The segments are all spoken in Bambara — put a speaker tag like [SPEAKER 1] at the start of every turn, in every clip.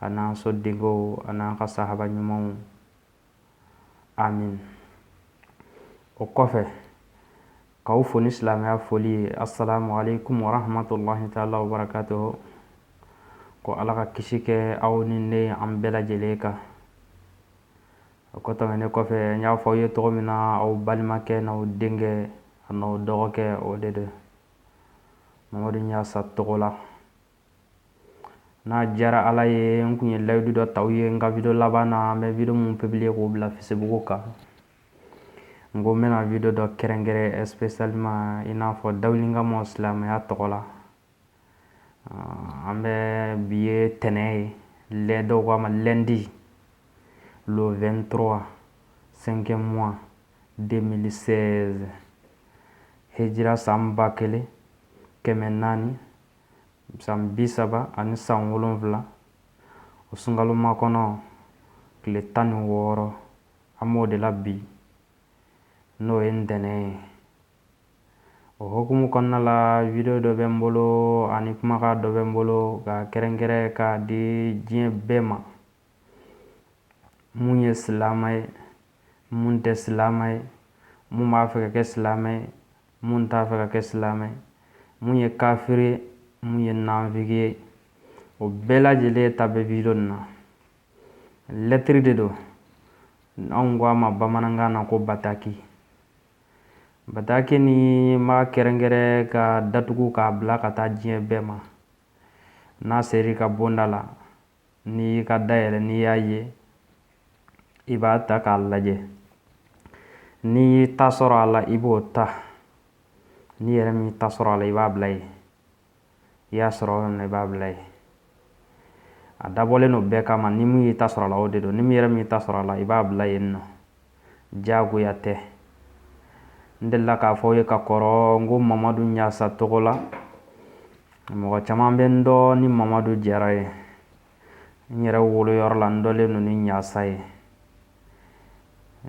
[SPEAKER 1] a n'an so denkɛw a n'an ka sahaba ɲumanw amin o kɔfɛ k'aw fo ni silamɛya foli ye assalamu alaikum warahmatullahi taala wabarakatuh ko ala ka kisi kɛ aw ni ne an bɛɛ lajɛlen kan o ko tɛmɛnen kɔfɛ n y'a fɔ aw ye cogo min na aw balimakɛ n'aw denkɛ an'aw dɔgɔkɛ o de don mamadu ɲasa togola n'a diyara ala ye n tun ye layidu dɔ ta aw ye n ka video laban na an bɛ video mun publier k'o bila facebook kan n ko n bɛna video dɔ kɛrɛnkɛrɛn spécialement i n'a fɔ da ka mɔn silamɛya tɔgɔ la an bɛ bi ye ntɛnɛn ye lɛ dɔw ko a ma lundi le vingt trois cinquième mois deux mille seize hijira san ba kelen kɛmɛ naani san bi saba ani san wolonwula o sunkalo makɔnɔ tile tan ni wɔɔrɔ an b'o de la bi n'o ye ntɛnɛn ye o hukumu kɔnɔna la video dɔ bɛ n bolo ani kumakan dɔ bɛ n bolo ka kɛrɛnkɛrɛn ka di diɲɛ bɛɛ ma mun ye silamɛ ye mun tɛ silamɛ ye mun b'a fɛ ka kɛ silamɛ ye mun t'a fɛ ka kɛ silamɛ mun ye kafiri ye mun ye nanfigi ye o bɛɛ lajɛlen ta bɛ video nin na lɛtiri de don anw ko a ma bamanankan na ko bataki bataki ni ma kɛrɛnkɛrɛn ka datugu k'a bila ka taa diɲɛ bɛɛ ma n'a ser'i ka bonda la n'i y'i ka da yɛlɛ n'i y'a ye i b'a ta k'a lajɛ n'i y'i ta sɔrɔ a la i b'o ta n'i yɛrɛ m'i ta sɔrɔ a la i b'a bila yen i y'a sɔrɔ yɔrɔ min i b'a bila yen a dabɔlen don bɛɛ kama ni min y'i ta sɔrɔ a la o de don ni min yɛrɛ m'i ta sɔrɔ a la i b'a bila yen nɔ diyagoya tɛ n delila k'a fɔ aw ye ka kɔrɔ n ko mamadu ɲasa togola mɔgɔ caman bɛ n dɔn ni mamadu jara ye n yɛrɛ woloyɔrɔ la n dɔnlen don ni ɲasa ye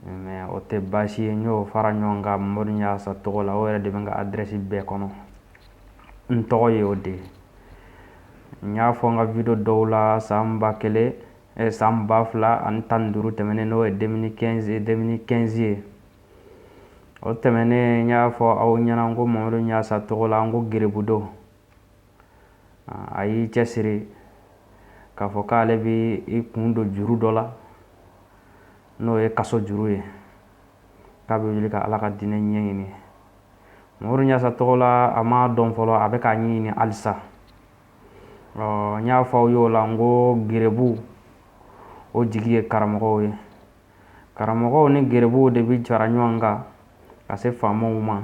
[SPEAKER 1] mɛ o tɛ baasi ye n y'o fara ɲɔgɔn kan mamadu ɲasa togola o yɛrɛ de bɛ n ka adrɛsi bɛɛ kɔnɔ n tɔgɔ ye o de ye n y'a fɔ n ka video dɔw la san ba kelen san ba fila ani tan duuru tɛmɛnen n'o ye deux mille quinze ye o tɛmɛnen n y'a fɔ aw ɲɛna ko mamadu ɲasa togola n ko garibu don a y'i cɛsiri k'a fɔ k'ale bɛ i kun don juru dɔ la n'o ye kaso juru ye k'a bɛ wuli ka ala ka diinɛ ɲɛɲini mamadu ɲasa togola a m'a dɔn fɔlɔ a bɛ k'a ɲini halisa ɔ n y'a fɔ aw y'o la n ko gerebuw jigi ye karamɔgɔw ye karamɔgɔw ni gerebuw de bɛ fara ɲɔgɔn kan ka se faamaw ma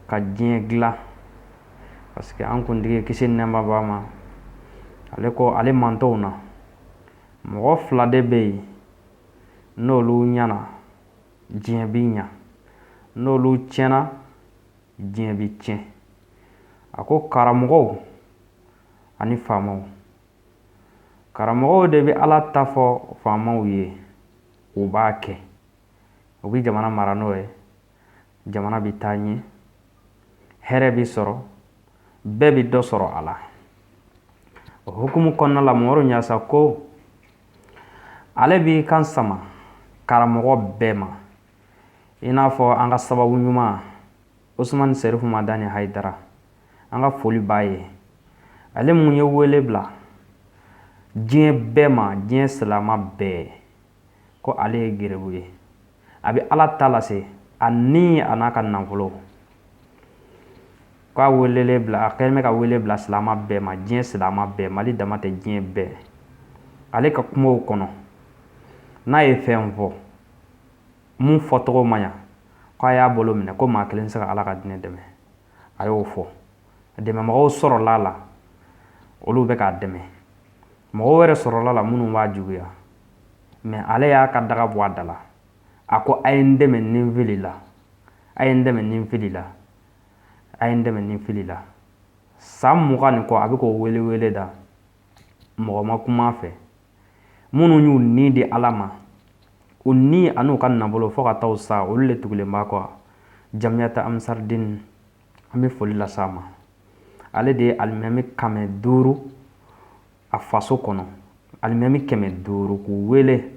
[SPEAKER 1] ka diɲɛ dilan parce que an kuntigi kisi ni nɛɛma b'a ma ale ko ale mantɔn na mɔgɔ fila de bɛ yen n'olu ɲɛna diɲɛ bɛ ɲɛ n'olu tiɲɛna diɲɛ bɛ tiɲɛ a ko karamɔgɔw ani faamaw karamɔgɔw de bɛ ala ta fɔ faamaw ye u b'a kɛ u bɛ jamana mara n'o ye jamana bɛ taa ɲɛ hɛrɛ bɛ sɔrɔ bɛɛ bɛ dɔ sɔrɔ a la o hukumu kɔnɔna la moru ɲasa ko ale b'i kan sama karamɔgɔ bɛɛ ma i n'a fɔ an ka sababu ɲuman osumani serifu madani hayidara an ka foli b'a ye ale mun ye wele bila diɲɛ bɛɛ ma diɲɛ silamɛ bɛɛ ko ale ye gerebu ye a bɛ ala ta lase a ni an'a ka nafolo ka welewele bila a kɛlen bɛ ka wele bila silamɛ bɛɛ ma diɲɛ silamɛ bɛɛ mali dama tɛ diɲɛ bɛɛ ale ka kumaw kɔnɔ n'a ye fɛn fɔ mun fɔcogo ma ɲa k'a y'a bolo minɛ ko maa kelen tɛ se ka ala ka diinɛ dɛmɛ a y'o fɔ dɛmɛmɔgɔ sɔrɔla la olu bɛ k'a dɛmɛ mɔgɔ wɛrɛ sɔrɔla la minnu b'a juguya mais ale y'a ka daga bɔ a da la a ko a ye n dɛmɛ ni n filila a ye n dɛmɛ ni n filila a ye n dɛmɛ ni n filila san mugan ni kɔ a bɛ k'o welewele da mɔgɔ ma kuma fɛ minnu y'u ni di ala ma u ni an'u ka nafolo fo ka taa sa olu de tugulen b'a kɔ jamiyatu ansaridini an bɛ foli las'a ma ale de ye alimami kɛmɛ duuru a faso kɔnɔ alimami kɛmɛ duuru k'u wele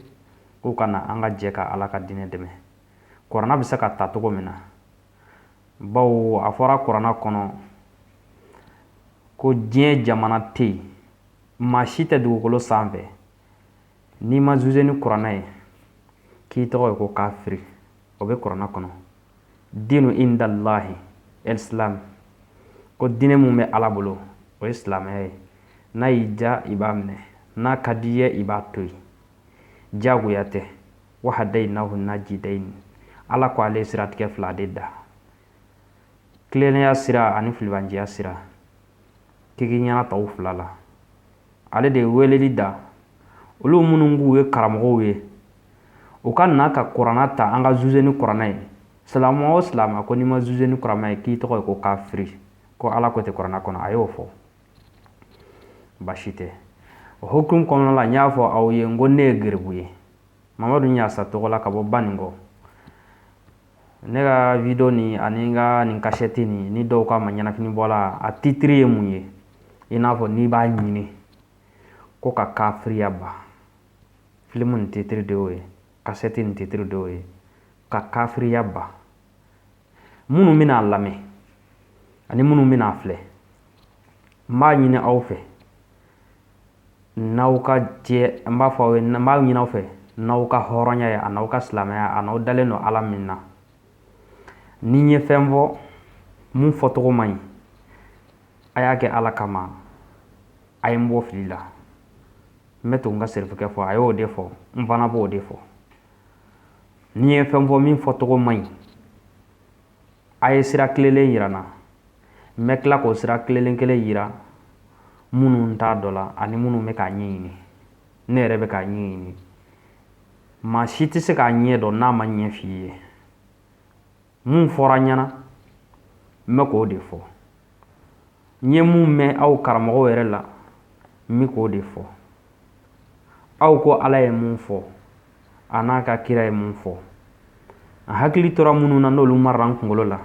[SPEAKER 1] k'u ka na an ka jɛ ka ala ka diinɛ dɛmɛ kurana bɛ se ka ta cogo min na bawo a fɔra kurana kɔnɔ ko diɲɛ jamana tɛ yen maa si tɛ dugukolo sanfɛ n'i ma juger ni kurana ye k'i tɔgɔ ye ko kafiri o bɛ kurana kɔnɔ dinu indalahi ɛlisilamu ko diinɛ min bɛ ala bolo o ye silamɛya ye n'a y'i diya i b'a minɛ n'a ka d'i ye i b'a to yen diyagoya tɛ wa hadayinahu najidayini ala ko ale siratigɛ fila de da tilennenya sira ani filibanjiya sira k'i k'i ɲɛna ta o fila la ale de ye weleli da olu minnu k'u ye karamɔgɔw ye u ka na ka kuranɛ ta an ka juge ni kuranɛ ye silamɛ o silamɛ ko n'i ma juge ni kuranɛ ye k'i tɔgɔ ye ko kafiri ko ala ko tɛ kuranɛ kɔnɔ a y'o fɔ baasi tɛ o hukumu kɔnɔna la n y'a fɔ aw ye n ko ne ye geribu ye mamadu ɲasa tɔgɔ la ka bɔ baninkɔ Ne ka vidéo nin ani n ka nin kasɛti nin ni dɔw k'a ma ɲɛnafinbɔla a titre ye mun ye i n'a fɔ n'i b'a ɲini ko ka kafiriya ban film nin titre de y'o ye kasɛti nin titre de y'o ye ka kafiriya ban minnu bɛna a lamɛn ani minnu bɛna a filɛ n b'a ɲini aw fɛ n'aw ka jɛ n b'a fɔ aw ye n b'a ɲin'aw fɛ n'aw ka hɔrɔnya ye a n'aw ka silamɛya a n'aw dalen don ala min na ni n ye fɛn fɔ mun fɔcogo man ɲi a y'a kɛ ala kama a ye n bɔ fili la n bɛ to n ka serifukɛ fɔ a y'o de fɔ n fana b'o de fɔ ni n ye fɛn fɔ min fɔcogo man ɲi a ye sira tilelen yira n na n bɛ tila k'o sira tilelen kelen yira minnu t'a dɔ la ani minnu bɛ k'a ɲɛɲini ne yɛrɛ bɛ k'a ɲɛɲini maa si tɛ se k'a ɲɛ dɔn n'a ma ɲɛ f'i ye mun fɔra n ɲɛna n bɛ k'o de fɔ n ye mun mɛn aw karamɔgɔw yɛrɛ la n bɛ k'o de fɔ aw ko ala ye mun fɔ a n'a ka kira ye mun fɔ a hakili tora minnu na n'olu mara n kunkolo la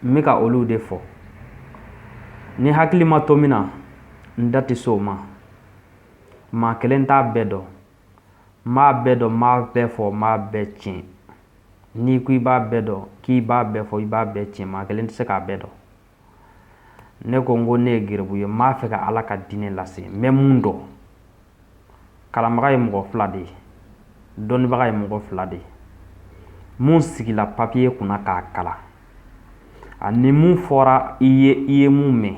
[SPEAKER 1] n bɛ ka olu de fɔ ni hakili ma to min na n da tɛ se o ma maa kelen t'a bɛɛ dɔn n b'a bɛɛ dɔn n b'a bɛɛ fɔ n b'a bɛɛ tiɲɛ n'i ko i b'a bɛɛ dɔn k'i b'a bɛɛ fɔ i b'a bɛɛ tiɲɛ maa kelen tɛ se k'a bɛɛ dɔn ne ko n ko ne ye geribu ye n b'a fɛ ka ala ka diinɛ lase n bɛ mun dɔn kalanbaga ye mɔgɔ fila de ye dɔnnibaga ye mɔgɔ fila de ye mun sigila papiye kunna k'a kalan ani min fɔra i ye i ye mun mɛn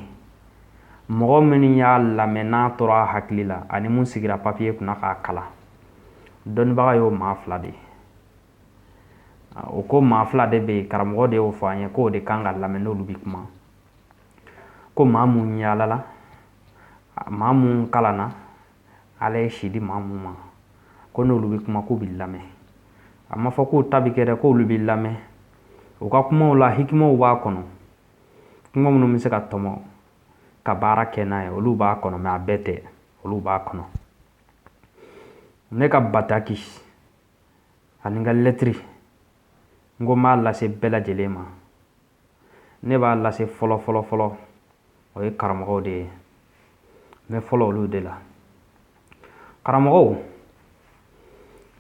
[SPEAKER 1] mɔgɔ minnu y'a lamɛn n'a tora a hakili la ani mun sigira papiye kunna k'a kalan dɔnnibaga y'o maa fila de ye o ko maa fila de bɛ yen karamɔgɔ de y'o fɔ an ye k'o de kan ka lamɛn n'olu bɛ kuma ko maa mun yaalala maa mun kalanna ala ye si di maa mun ma ko n'olu bɛ kuma k'u bɛ lamɛn a ma fɔ k'u ta bɛ kɛ dɛ k'olu bɛ lamɛn u ka kumaw la hikimaw b'a kɔnɔ kuma minnu bɛ se ka tɔmɔ ka baara kɛ n'a ye olu b'a kɔnɔ mais a bɛɛ tɛ olu b'a kɔnɔ ne ka bataki ani n ka lɛtiri n ko n b'a lase bɛɛ lajɛlen ma ne b'a lase fɔlɔ fɔlɔ o ye karamɔgɔw de ye n bɛ fɔlɔ olu de la karamɔgɔw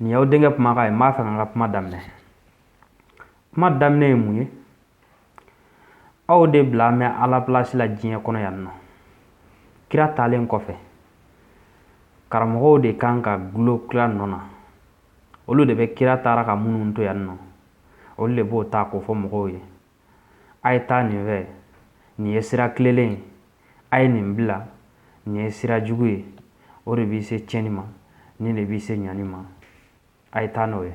[SPEAKER 1] nin y'aw denkɛ kumakan ye n b'a fɛ ka n ka kuma daminɛ kuma daminɛ ye mun ye aw de bila mɛn ala plasi la diɲɛ kɔnɔ yan nɔ kira taalen kɔfɛ karamɔgɔw de kan ka dulon kira nɔ na olu de bɛ kira taara ka minnu to yan nɔ olu de b'o ta k'o fɔ mɔgɔw ye a ye taa nin fɛ nin ye sira tilelen ye a ye nin bila nin ye sira jugu ye o de b'i se tiɲɛni ma nin de b'i se ɲani ma A ye taa n'o ye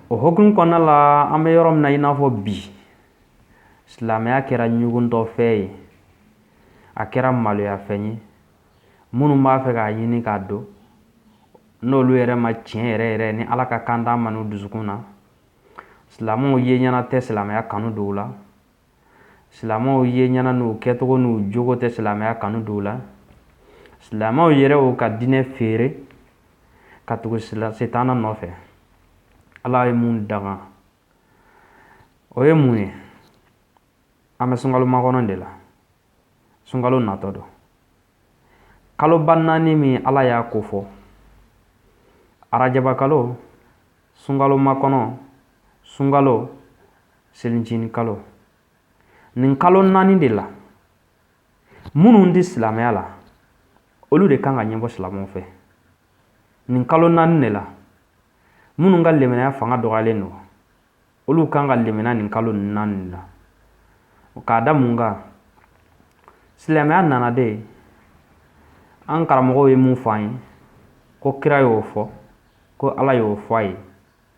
[SPEAKER 1] o hukumu kɔnɔna la an bɛ yɔrɔ min na i n'a fɔ bi silamɛya kɛra ɲuguntɔfɛn ye a kɛra maloyafɛn ye minnu b'a fɛ k'a ɲini k'a dɔn n'olu yɛrɛ ma tiɲɛ yɛrɛ yɛrɛ ni ala ka kanda ma n'u dusukun na silamɛw ye ɲɛna tɛ silamɛya kanu don u la silamɛw ye ɲɛna n'u kɛcogo n'u jogo tɛ silamɛya kanu don u la silamɛw yɛrɛ y'u ka diinɛ feere ka tugu sitana nɔfɛ ala ye mun daga o ye mun ye an bɛ sunkalo makɔnɔ de la sunkalo natɔ don kaloba naani min ala y'a ko fɔ arajabakalo sunkalo makɔnɔ sunkalo selicinin kalo nin kalo naani de la minnu tɛ silamɛya la olu de kan ka ɲɛbɔ silamɛw fɛ nin kalo naani de la minnu ka limaniya fanga dɔgɔyalen don olu kan ka limaniya nin kalo naani la k'a da mun kan silamɛya nana de an karamɔgɔw ye mun fɔ an ye ko kira y'o fɔ ko ala y'o fɔ a ye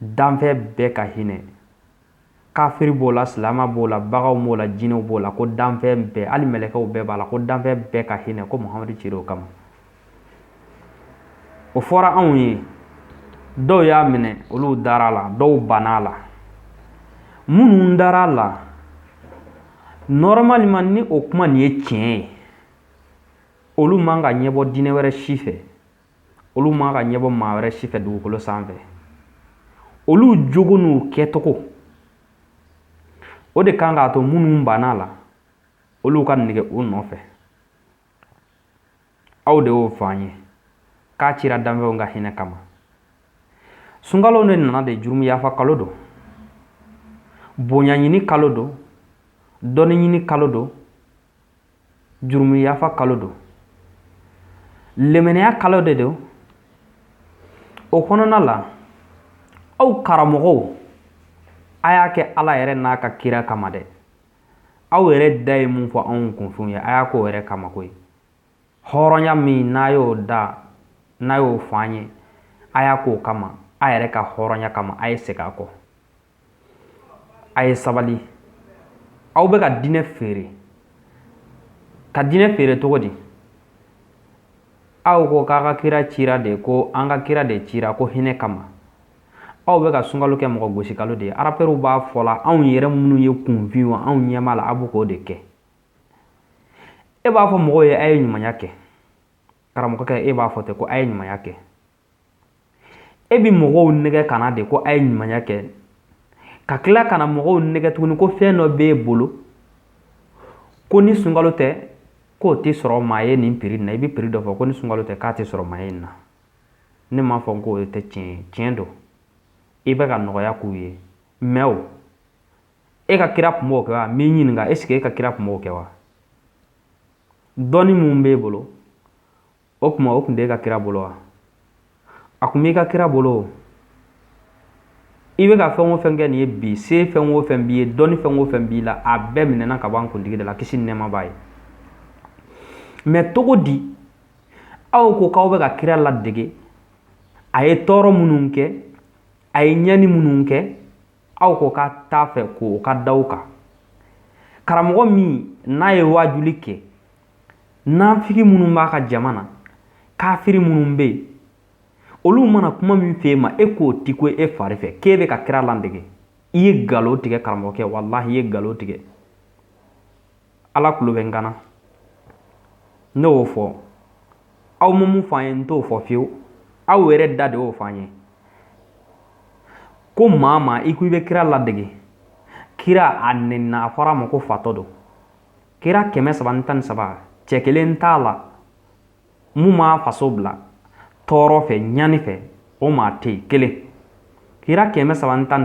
[SPEAKER 1] danfɛn bɛɛ ka hinɛ kafiri b'o la silama b'o la baganw b'o la jinɛw b'o la ko danfɛn bɛɛ hali mɛlɛkɛw bɛɛ b'a la ko danfɛn bɛɛ ka hinɛ ko muhamadu cira o kama o fɔra anw ye dɔw y'a minɛ olu dara a la dɔw banna a la minnu dara a la normalement ni o kuma nin ye tiɲɛ ye olu man ka ɲɛbɔ diinɛ wɛrɛ si fɛ olu man ka ɲɛbɔ maa wɛrɛ si fɛ dugukolo sanfɛ olu jogo n'u kɛcogo o de kan k'a to minnu banna la olu ka nege u nɔfɛ aw de y'o fɔ an ye k'a cira danfɛnw ka hinɛ kama sunkalo de nana de jurumu yafa kalo don bonya ɲini kalo don dɔnni ɲini kalo don jurumuyafa kalo don limaniya kalo de don o kɔnɔna la aw karamɔgɔw a y'a kɛ ala yɛrɛ n'a ka kira kama dɛ aw yɛrɛ da ye min fɔ anw kunfinw ye a y'a k'o yɛrɛ kama koyi hɔrɔnya min n'a y'o da n'a y'o fɔ an ye a y'a k'o kama a yɛrɛ ka hɔrɔnya kama a ye segin a kɔ a ye sabali aw bɛ ka diinɛ feere ka diinɛ feere cogo di aw ko k'a ka kira cira de ko an ka kira de cira ko hinɛ kama aw bɛ ka sunkalo kɛ mɔgɔ gosi kalo de ye arapɛriw b'a fɔ la anw yɛrɛ minnu ye kunfinw ye anw ɲɛma la a bɛ k'o de kɛ e b'a fɔ mɔgɔw ye a ye ɲumanya kɛ karamɔgɔkɛ e b'a fɔ ten ko a ye ɲumanya kɛ e bɛ mɔgɔw nɛgɛn ka na de ko a ye ɲumanya kɛ ka tila ka na mɔgɔw nɛgɛn tuguni ko fɛn dɔ b'e bolo ko ni sunkalo tɛ k'o tɛ sɔrɔ maa ye nin piri na i bɛ piri dɔ fɔ ko ni sunkalo tɛ k'a tɛ sɔrɔ maa ye nin na ne m'a fɔ k'o tɛ tiɲɛ ye tiɲɛ don i bɛ ka nɔgɔya k'u ye mɛ o e ka kira tun b'o kɛ wa n b'i ɲininka ɛsike e ka kira tun b'o kɛ wa dɔnni min b'e bolo o tuma o tun tɛ e ka kira bolo wa a tun b'i ka kira bolo i bɛ ka fɛn o fɛn kɛ nin ye bi se fɛn o fɛn b'i ye dɔnni fɛn o fɛn b'i la a bɛɛ minɛna ka bɔ an kuntigi de la kisi ni nɛɛma b'a ye mɛ cogo di aw ko k'aw bɛ ka kira ladege a ye tɔɔrɔ minnu kɛ a ye ɲɛni minnu kɛ aw ko k'a t'a fɛ k'o ka da aw kan karamɔgɔ min n'a ye waajuli kɛ nafigi minnu b'a ka jama na kafiri minnu bɛ yen olu mana kuma min f'e ma e k'o ti ko e fari fɛ k'e bɛ ka kira ladege i ye nkalon tigɛ karamɔgɔkɛ walahi i ye nkalon tigɛ ala kulo bɛ n kana ne y'o fɔ aw ma mun f'an ye n t'o fɔ fiyewu aw yɛrɛ da de y'o f'an ye ko maa maa i ko i bɛ kira ladege kira a nɛnina a fɔra a ma ko fatɔ don kira kɛmɛ saba ni tan ni saba cɛ kelen t'a la min m'a faso bila tɔɔrɔ fɛ ɲani fɛ o maa tɛ kelen kira kɛmɛ saba ni tan